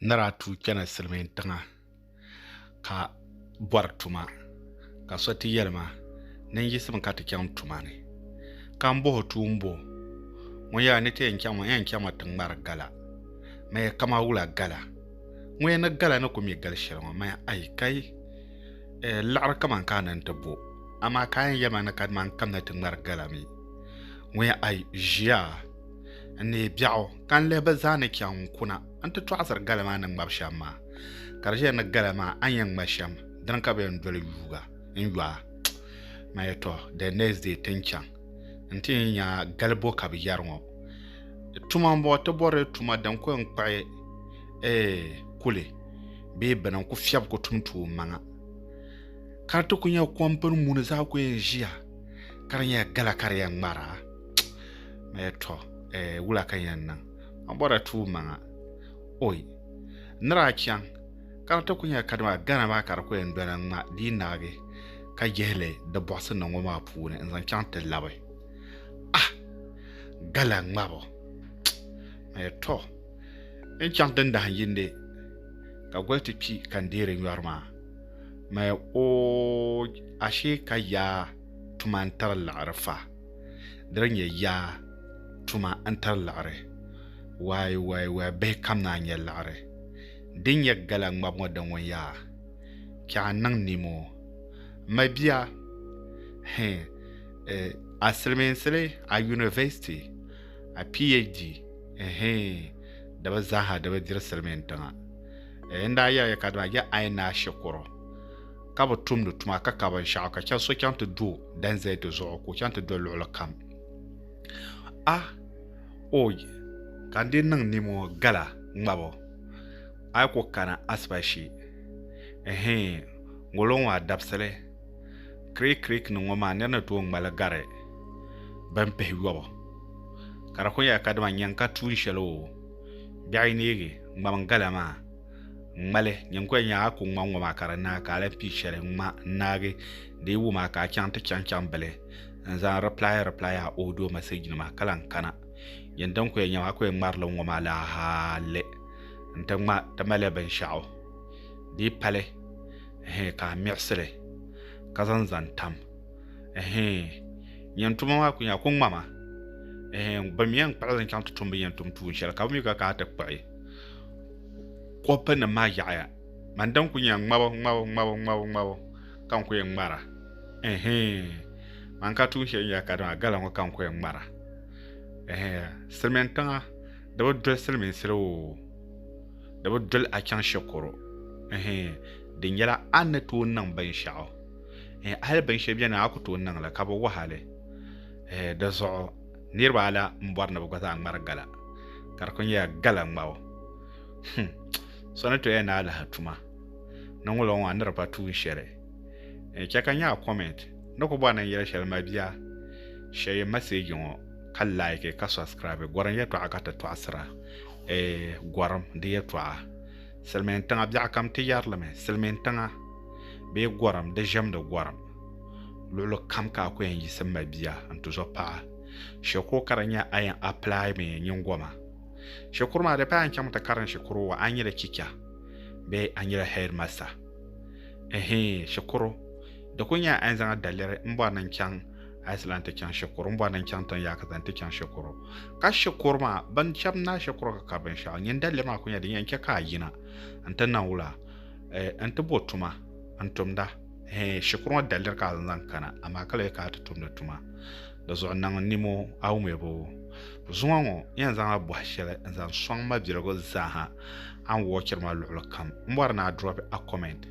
ni daa tuui kpɛna silmiin tiŋa ka bori tuma ka so ti yɛli ma ni n yiɣisimi ka ti chɛŋ tuma ni ka n boho tuun bo ŋɔ yɛla ni ti yɛn chɛŋ maa n yɛn chɛŋmi ti ŋmari gala maya kama wula gala ŋɔ ya ni gala ni ku mi gali shɛli ŋɔ maya ayi ka yi laɣari kamani ka a ni ti bo amaa ka a yɛn yɛli ma ni kadama n kamina ti ŋmari gala mi ŋɔ ya ayi ʒiya N neei biɛɣu ka n lihi bɛ zaa ni chaŋ n kuna nti tɔɣisiri gala maa ni ŋmabi shɛm maa. Ka di ʒiya ni gala maa a ni yɛn ŋma shɛm, dini ka bɛ yɛn doli yuuga n-yo a. Ma ya tɔ, the next day ti ni chaŋ nti ni nya gali bo ka bɛ yɛri ŋɔ. Tuma m-bɔŋɔ, ti bɔrila tuma din ku yɛn kpuɣi eh kuli bee bini n-ku fiɛbi ku tum tuummaŋa. Ka di ti ku nya kɔmpini muni zaa ku yɛn ʒiya ka di nyɛla gala ka di yɛn ŋmara. mɛ tɔ eh, wula ka yɛn niŋ ma bɔra tuui maŋa oi nira a chaŋ ka di ti ku nyɛ kadama gana maa ka di ku yɛn dɔla ŋma di yi naagi ka yihili di bɔɣisi ni ŋɔ maa puuni n zaŋ chaŋ ti labi ah gala ŋmabo mɛ tɔ n chaŋ ti ndahin yindi ka goli ti kpi ka n deeri nyɔri maa mɛ o ashe ka yaa tuma n tiri liɣiri fa di di nyɛ yaa tuma n tari liɣiri waai waai waai bihi kam naa nyɛ liɣiri din nyɛ gala ŋmabu ŋɔ di ŋun yaa kpɛɣu n niŋ nimo mabia hi eh, a silimiinsili a university a phd hi di bi zaaha di bi diri silimiin tiŋa eh, n daa yɛliya kadama ya ai naa shikuru ka bi tumdi tuma ka ka binshaɣu ka chɛ so chaŋ ti do dan zali di zuɣu ka o chaŋ ti do luɣuli kam a o ka n di niŋ nimo gala ŋmabo a yi ku kana asiba shee ɛhɛn ŋolo ŋɔ a dabisili kirik kirik ni ŋɔ maa nira ni tooi ŋmali gari bin pihi yɔbu ka di ku nyɛla kadama nyɛŋ ka tuun shɛli o biɛɣu yi neegi ŋmani gala maa ŋmali nyingoli nyaa a ku ŋma ŋɔ maa ka di naai ka a lahi pii shɛli ŋma n naagi di yi wum a ka a chaŋ ti chaŋ chaŋ bili n zaŋ reply reply a audio message nima ka lahi kana yin din ku yɛn nyɛm a ku yɛn ŋmarili ŋɔ maa laa hali n ti ŋma ti mali binshaɣu di yi pali hɛɛ ka a miɣisili ka zaŋ zaŋ tam hɛɛ nyin tuma maa ku nyɛ a ku ŋma ma hɛɛ bin mi yɛn kpuɣili n chaŋ ti tumdi nyin tum tuun shɛli ka bi mi ka ka a ti kpuɣi kopu nim maa yaɣaya mani din kuli nyɛ ŋmabu ŋmabu ŋmabu ŋmabu ŋmabu ka n ku yɛn ŋmara mani ka tuun shɛli nyɛla kadama gala ŋo ka n ku yɛn ŋmara silmiin tiŋa di bi doli silmiinsi la oo di bi doli a chɛŋ shɛkɔrɔ di nyɛla a ni tooi niŋ binshaɣu hali binshɛli biɛni a ku tooi niŋli ka bi waɣali dizuɣu niriba ala n bɔri ni bi gba zaa ŋmari gala ka di ku nyɛla gala ŋmabu hmm. so ni toya ni alaha tuma ni ŋulo ŋɔ a ni di pa tuun shɛli n chɛ ka nyaa comment ni ku bɔri ni n yɛli shɛli mabiya shɛye message ŋɔ ka like ka subscribe gɔrim yɛtɔɣa ka ti tɔɣisira eh, gɔrim di yɛtɔɣa silimiin tiŋa biɛɣu kam ti yɛrilimi silimiin tiŋa bee gɔrim di ʒɛmdi gɔrim luɣili kam ka a ku yɛn yiɣisi m-mali bia n-ti zuɣu paɣa shikuru ka di nya a yɛn apply mi nyingoma shikuru maa di paai a ni chaŋ ti karim shikuru wa a ni nyɛla chicha bee a nyɛla headmaster ɛhii shikuru di ku nyɛla a yɛn zaŋla daliri m bɔri ni n chaŋ Iceland ti chaŋ shikuru m bɔri ni n chaŋ tiŋ yaakata n ti chaŋ shikuru ka shikuru maa bin chɛb naai shikuru ka kari binshɛɣu nyin daliri maa ku nyɛla din yɛn chɛ ka a yina n ti niŋ wula n ti bo tuma n tumda Eh, shikuru ŋɔ daliri ka zaŋ kana amaa ka lahi ka ti tumdi tuma di zuɣu niŋ nimo a wumiriba o zuŋɔ ŋɔ yɛn zaŋla bɔhi shɛli n zaŋ sɔŋ ma biligu zaaha a ni wɔɔchiri ma luɣuli kam m bɔri ni a drop a comment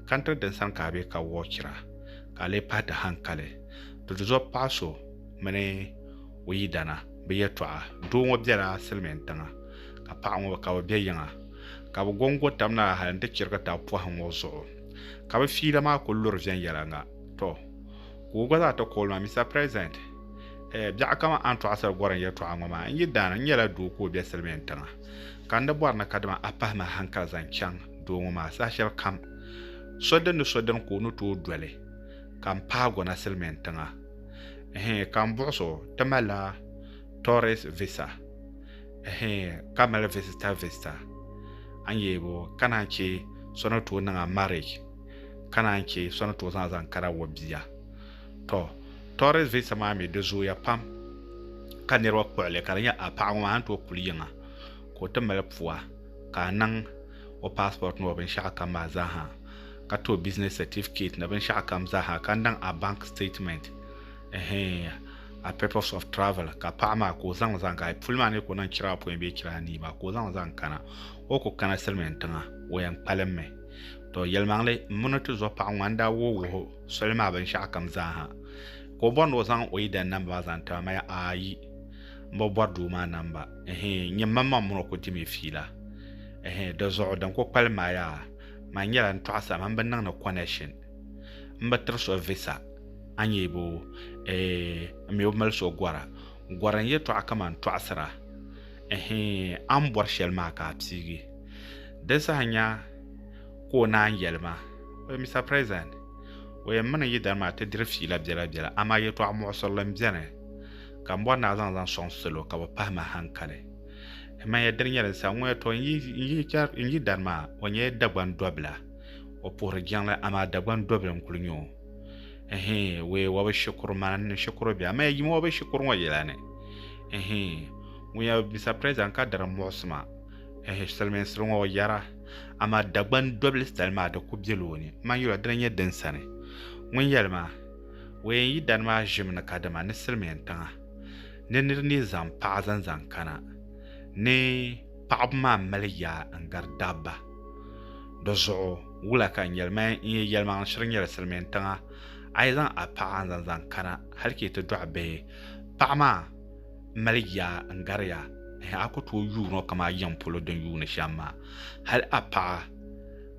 kantiri din sani ka a be ka wɔɔchira ka a lee pahi ti hankali di du zuɣu paɣa so mini o yidana bi yɛtɔɣa doo ŋɔ bela silimiin tiŋa ka paɣa ŋɔ ka bi be yiŋa ka bi gongo tam na hali n ti chirigi tab pɔhi ŋɔ zuɣu Ka bɛ fiila maa kul luri viɛnyɛliŋga. Tɔ! Ka o gba zaa ti kooli ma, Mister President, eh, biɛɣu kaman Antɔɣisiri Gɔrim yɛtɔɣa ŋɔ maa, n yi daan n nyɛla doo ka o be Silimiin tiŋa, ka n di bɔri ni kadama a pahi ma hankali zaŋ chaŋ doo ŋɔ maa saha shɛli kam, so din ni so din ka o ni tooi doli ka m paai gɔna Silimiin tiŋa. Ehe, ka m buɣis o, ti malila Tourist Visa. Ɛhɛɛ, ka mali visitor visitor. A ni yee bo, ka naan che so ni tooi niŋ a marriage, ka naan che so ni tooi zaŋ a zaŋ kara o bia. Tɔ, tourist visa maa mi di zooya pam, ka niriba kpuɣi li ka di nya a paɣa ŋɔ maa a ni tooi kuli yiŋa ka o ti mali pua ka a niŋ o passport ni o binshɛɣu kam maa zaa ha, ka ti o business certificate ni binshɛɣu kam zaa ha, ka niŋ a bank statement. Ɛhɛɛn, a purpose of travel ka paɣa maa ka o zaŋ zaŋ ka puli maa ni ka o niŋ chira apɔin bee chira anii maa ka o zaŋ zaŋ kana o ku kana silimiin tiŋa o yɛn kpalimmi to yɛlimaŋli m mini ti zo paɣa ŋun daa wuhi wuhi soli maa binshɛɣu kam zaa ha ka o bɔri ni o zaŋ o yidana namba maa zaŋ ti ma maya ayi m bi bɔri doo maa namba ɛhɛɛn nyɛ mam maŋ mini o ku dimi fiila ɛhɛɛn di zuɣu din ku kpalim maa yaa man nyɛla n tɔɣisa man bi niŋ ni connection n bi tiri so visa a nyɛ bo eh, n mi bi mali so gɔra gɔra n yɛtɔɣa kaman tɔɣisira ɛhɛn a ni bɔri shɛli maa ka a piigi di saha nya ka o naan yɛli ma o yɛn Mister President o yɛn mini n yidana maa ti diri fiila biɛla biɛla amaa yɛtɔɣa muɣisirili m-beni ka m bɔri ni a zaŋ zaŋ sɔŋ salo ka bɛ pahi ma hankali m manya dini nyɛli sa ŋuya tɔ n yidana maa o nyɛla Dagban dɔbila o puhiri jiŋli amaa Dagban dɔbili n-kuli nyɛ o. Ɛhii, wee wabi shikuru mani ni shikuru bihi amaa ya yim wabi shikuru ŋɔ yɛla ni. Ɛhii, ŋun ya Mister President ka diri muɣisima, ɛhii, siliminsili ŋɔ o yara amaa Dagban dɔbili sitali maa di kuli bela o ni. M ma n yuli o dina n-nyɛ din sani. Ŋun yɛli ma, wee n yi dani maa ʒimi ni ka dama ni silimin tiŋa ni nir ni zaŋ paɣa zaŋ zaŋ kana ni paɣaba maa mali yaa n-gari dabba. Di zuɣu wula ka n yɛli mani n-yi yɛlimaŋli shiri nyɛla silimiin tiŋa, a yi zaŋ a paɣa n-zaŋ zaŋ kana hali ka yi ti dɔɣi bihi, paɣa maa m-mali yaa n-gari ya, ɛhɛ a ku tooi yuun o kaman a yiŋ polo din yuuni shɛm maa. Hali a paɣa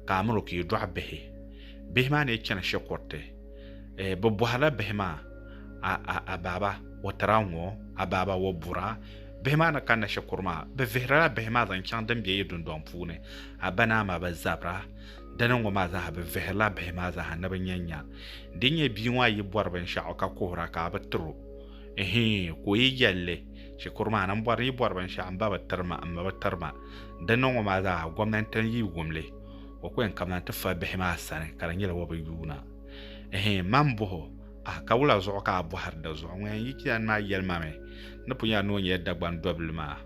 ka a miri o ka yi dɔɣi bihi, bihi maa ni chani shikuriti, bɛ bɔhirila bihi maa, A, a, a baaba, o tira ŋ-ɔ, a baaba, o bura, Bihi maa ni kanna shikuru maa, bɛ vihirila bihi maa zaŋ chaŋ din be yi dundɔŋ puuni, a ba ni a ma bi zabira. Dini ŋ-ŋɔ maa zaa ha bɛ vihirila bihi maa zaa ha ni bɛ nya nya. Di nyɛ bia ŋɔ a yi bɔri binshɛɣu ka kuhir a ka a bi tir o, ihii, ka o yi yɛli li, shikuru maa ni m bɔri ni yi bɔri binshɛɣu m ba bi tiri ma, m ma bi tiri ma. Dini ŋ-ŋɔ maa zaa ha gomnanti n-yi wum li, o ku yɛn kabina nti fa bihi maa sani ka di nyɛla o bi yuuna. Ihii, man m bɔh o, A ka wula zuɣu ka a bɔhiri di zuɣu? Ŋun yɛn yi Kian maa yɛli ma mi ni pun yaa ni o nyɛla Dagban dɔbili maa.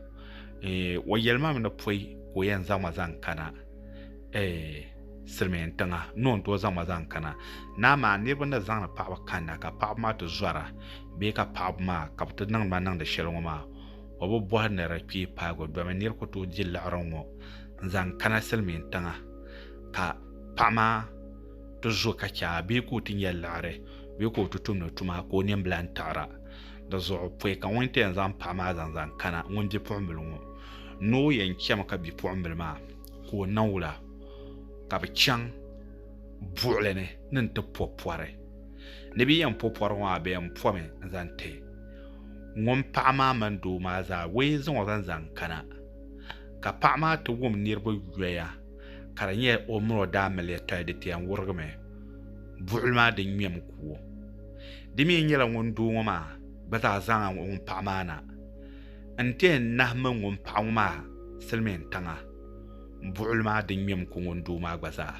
Eh, o yɛli ma mi ni pɔi ka o yɛn zaŋ ma zaŋ kana eh, Silimiin tiŋa ni o ni tooi zaŋ ma zaŋ kana. Naa maa, niriba ni zaŋdi paɣiba kanna ka paɣiba maa ti zɔra bee ka paɣiba maa ka bɛ ti niŋdi ma niŋdi shɛli ŋɔ maa, o bi bɔhi ni di kpee paagi o domi nir ku tooi di liɣiri ŋ-ŋɔ n-zaŋ kana Silimiin tiŋa ka paɣa maa ti zo ka chɛ a bee ka o ti nyɛ liɣiri bee ka o ti tumdi tuma ka o nimbila n taɣira di zuɣu pɔi ka ŋun ti yɛn zaŋ paɣa maa zaŋ zaŋ kana ŋun bipuɣimbila ŋɔ noo yɛn chɛmi ka bipuɣimbila maa ka o na wula ka bɛ chaŋ buɣili ni ni n-ti pɔ pɔri ni bɛ yɛn pɔ pɔri ŋɔ maa bɛ yɛn pɔmi n-zaŋ ti ŋun paɣa maa mini doo maa zaa wee zaŋ o zaŋ zaŋ kana ka paɣa maa ti wum niriba yoya ka di nyɛ o mini o daa mali yɛtɔya di pia n-wurigimi buɣili maa din ŋmɛm kuo. Di mi nyɛla ŋun doo ŋɔ maa gba zaa zaŋ a ŋun paɣi maa na n-ti yɛn nahimmi ŋun paɣi ŋɔ maa silimiin tiŋa buɣili maa din ŋmɛm ku ŋun doo maa gba zaa.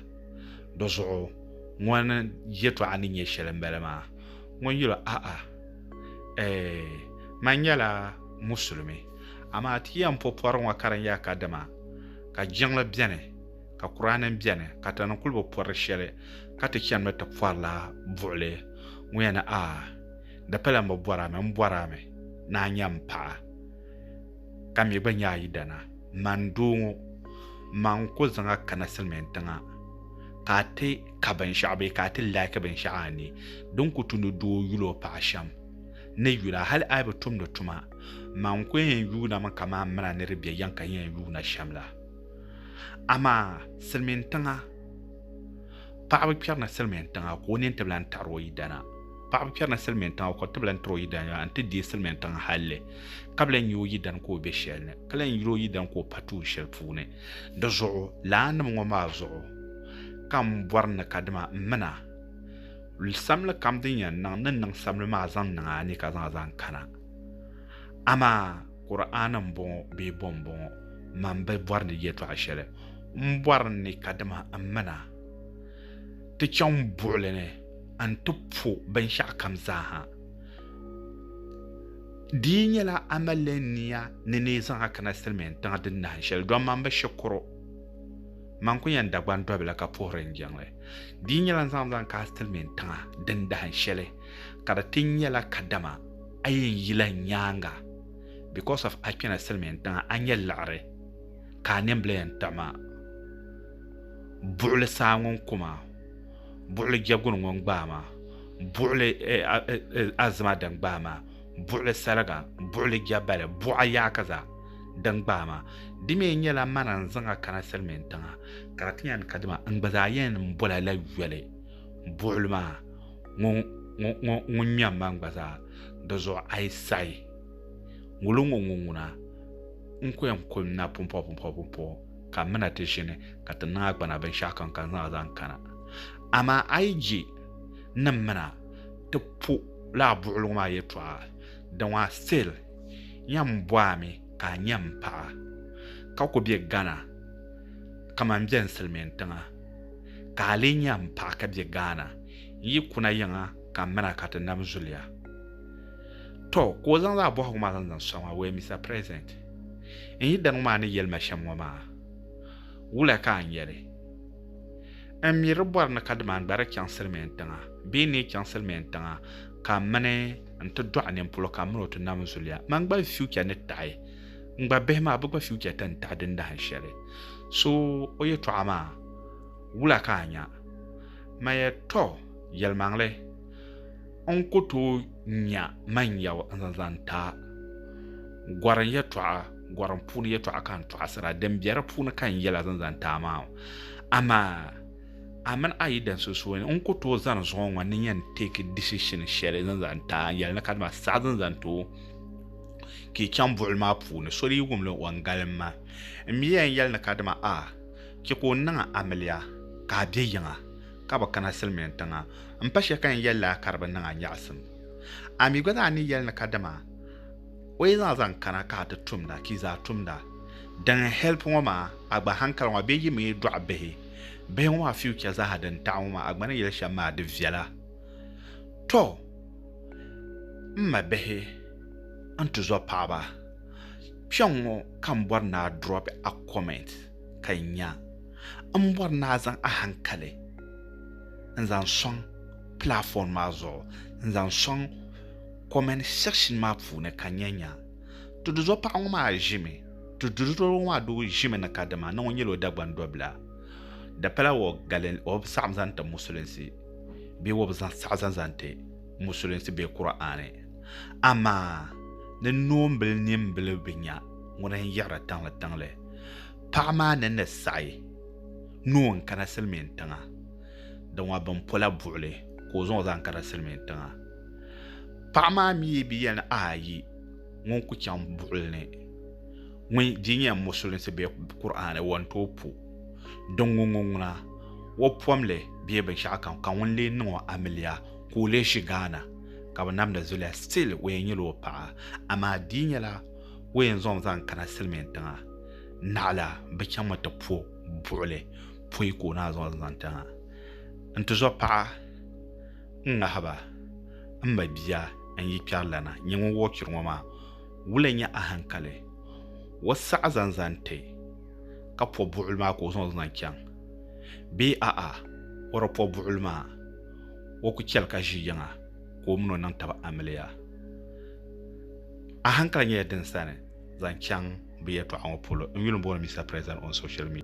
Di zuɣu ŋɔni yɛtɔɣa ni nyɛ shɛli m-bala maa ŋun yuli o, A'a eeh! Man nyɛla Musulimi, amaa ti yɛn po pɔri ŋɔ ka di nyɛla kadama ka jiŋli bɛni ka kuraanim bɛni ka tana kuli bi pɔri shɛli ka ti chani mi ti pɔrila buɣili ŋɔ yɛn ni a di pala m bi bɔri a mi m bɔri a mi ni a nya m paɣa ka mi gba nya a yidana man doo ŋɔ man ku zaŋ a kana silimiin tiŋa ka a ti ka binshɛɣu bee ka a ti laaki binshɛɣu a ni din ku tumdi doo yuli o paɣa shɛm ni yuli a hali a yi bi tumdi tuma Man ku yɛn yuunami kamani mina ni di bɛ yɛŋ ka yɛn yuuna shɛm la. Amaa silimiin tiŋa, paɣa bi kpɛri ni silimiin tiŋa ka o nini ti bi lan taɣiri o yidana. Paɣa bi kpɛri ni silimiin tiŋa ka o ti bi lan tiri o yidana nti deei silimiin tiŋa halli ka bi lan nya o yidana ka o be shɛli ni, ka lan yil o yidana ka o pa tuun shɛli puuni. Di zuɣu lana nim ŋɔ maa zuɣu ka m bɔri ni kadama m mina, samli kam din yɛn niŋ, ni n niŋ samli maa zaŋ niŋ a ni ka zaŋ a zaŋ kana. Amaa Kur'aana m-bɔŋɔ bee bɔ m-bɔŋɔ, man bi bɔri ni yɛtɔɣ shɛli, m bɔri ni ka dama m min a ti chaŋ buɣili ni nti po binshɛɣukam zaaha. Di yi nyɛla a malila nia ni ni yi zaŋ a kana silimiin tiŋa din nahin shɛli, dɔn man bi shikuru, man ku yɛn Dagban dɔbila ka puhiri n jiŋli. Di yi nyɛla n zaŋ zaŋ ka a silimiin tiŋa din dahin shɛli, ka di ti nyɛla ka dama a yi n yila n nyaaŋa because of a kpɛna silimiin tiŋa a nyɛ liɣiri ka a nimbila yɛn kpiɣi ma buɣili saa ŋun ku ma buɣili jɛguni ŋun gbaai ma buɣili azima din gbaai ma buɣili saliga buɣili jɛbali buɣa yaaki zaa din gbaai ma di mi nyɛla mana n zaŋ a kana silimiin tiŋa ka di ti yɛn kadima n gba zaa yɛn bɔla la yoli buɣili maa ŋun nya man gba zaa di zuɣu a yi sayi ŋuli ŋɔ ŋun ŋuna n ko yɛn kuli na pumpɔbu pumpɔbu pumpɔbu ka m mina ti ʒini ka ti niŋ a gbana binshɛɣu kam ka zaŋ a zaŋ kana amaa a yi je ni m mina ti po laa buɣili ŋɔ maa yɛtɔɣa di ŋɔ a still yɛn bɔ a mi ka a nya m paɣa ka ku be Ghana kaman bɛn silimiin tiŋa. ka a lee nya m paɣa ka be Ghana, n yi kuna yiŋa ka m min a ka ti nam zuliya. Tɔ! Ka o zaŋ zaɣ bɔhigu maa zaŋ zaŋ sɔŋ a, Wee Mister President, n yi dani ŋɔ maa ni yɛli ma shɛm ŋɔ maa, wula ka a nya li? N mi di bɔri ni kadama n gba di chaŋsiri mi n tiŋa bee n lee chaŋsiri mi n tiŋa ka m mini n ti dɔɣi ninpolo ka m min o ti nam zuliya. Man gba n future ni taɣi. N gba bihi maa, bɛ gba future ti ni taɣi din dahin shɛli. So o yɛtɔɣa maa wula ka a nya? Maya, Tɔ! Yɛlimaŋli, n ku tooi nya man yɛu n-zaŋ zaŋ ti a. Gɔrim yɛtɔɣa, gɔrim puuni yɛtɔɣa ka n tɔɣisira, din be di puuni ka n yɛla zaŋ zaŋ ti a maa. Amaa, a mini a yidana sunsuuni, n ku tooi zani zuŋɔ ŋɔ ni yɛn take decision shɛli zaŋ zaŋ ti a, n yɛli ni kadama saɣi zaŋ zaŋ ti o. ka yi chaŋ buɣuli maa puuni, so di yi wum li, o ni galim ma. N mi ya n-yɛli ni kadama a chɛ ka o niŋ amiliya ka a be yiŋa, ka bi kana silimiin tiŋa. M pa shɛli ka n yɛli li a ka di bi niŋ a nyaɣisim. A mi gba zaa ni yɛli ni kadama o yi zaŋ zaŋ kana ka a ti tumda, ka yi zaa tumda. Din help ŋɔ maa, a gba hankali ŋɔ maa bee yi mi yi dɔɣi bihi, bihi ŋɔ maa future zaa ha din taɣi ŋɔ maa, a gba ni yɛli shɛm maa di viɛla. Tɔ! M ma bihi! N tizɔ paɣaba, kpɛŋ ŋɔ ka n bɔri ni a drop a comment ka n nya. M bɔri ni a zaŋ a hankali n zaŋ sɔŋ platform maa zuɣu n zaŋ sɔŋ comment section maa puuni ka n nya nya. Ti tizɔ paɣa ŋɔ maa ʒimi, ti tizɔ ŋɔ maa doo ʒimi ni kadama ni ŋɔ nyɛla o Dagban dɔbila. Di pala o galin o bi saɣim zaŋ ti musulinsi bee o bi saɣi zaŋ zaŋ ti musulinsi bee Kur'aani. Amaa ni noombil nimbili bi nya ŋuni n-yiɣiri tiŋlitiŋli, paɣ maa ni ni saɣi ni o n-kana silimiin tiŋa, di ŋɔ bɛn pola buɣili ka o zaŋ o zaŋ kana silimiin tiŋa. Paɣ maa mi bi yɛli ni, Ayi, ŋun ku chaŋ buɣili ni ŋun di nyɛ musulinsi bee Kur'aani, o ni tooi po din ŋun ŋɔ ŋuna, o pomli bee binshɛɣukam, ka ŋuni leei niŋ o amiliya, ka o lee ʒi Ghana ka bɛ namdi zuliya still o yɛn nyɛla o paɣa amaa di yi nyɛla ka o yɛn zaŋ o zaŋ kana silimiin tiŋa naɣila bɛ chaŋmi ti po buɣili poi ka o naai zaŋ o zaŋ tiŋa n tizɔ paɣa n ŋahiba m ba bia n yi kpɛri lana nyɛ ŋun wuhi churi ŋɔ maa wula nyɛ ahankali o saɣi zaŋ zaŋ ti ka po buɣili maa ka o zaŋ o zaŋ chaŋ bee a'a o di po buɣili maa o ku chɛli ka ʒi yiŋa ka o mini o niŋ taba amiliya. Ahankali nyɛla din sani zaŋ chaŋ bɛ yɛltɔɣa ŋɔ polo n-yuli m-booni Mister President on social media.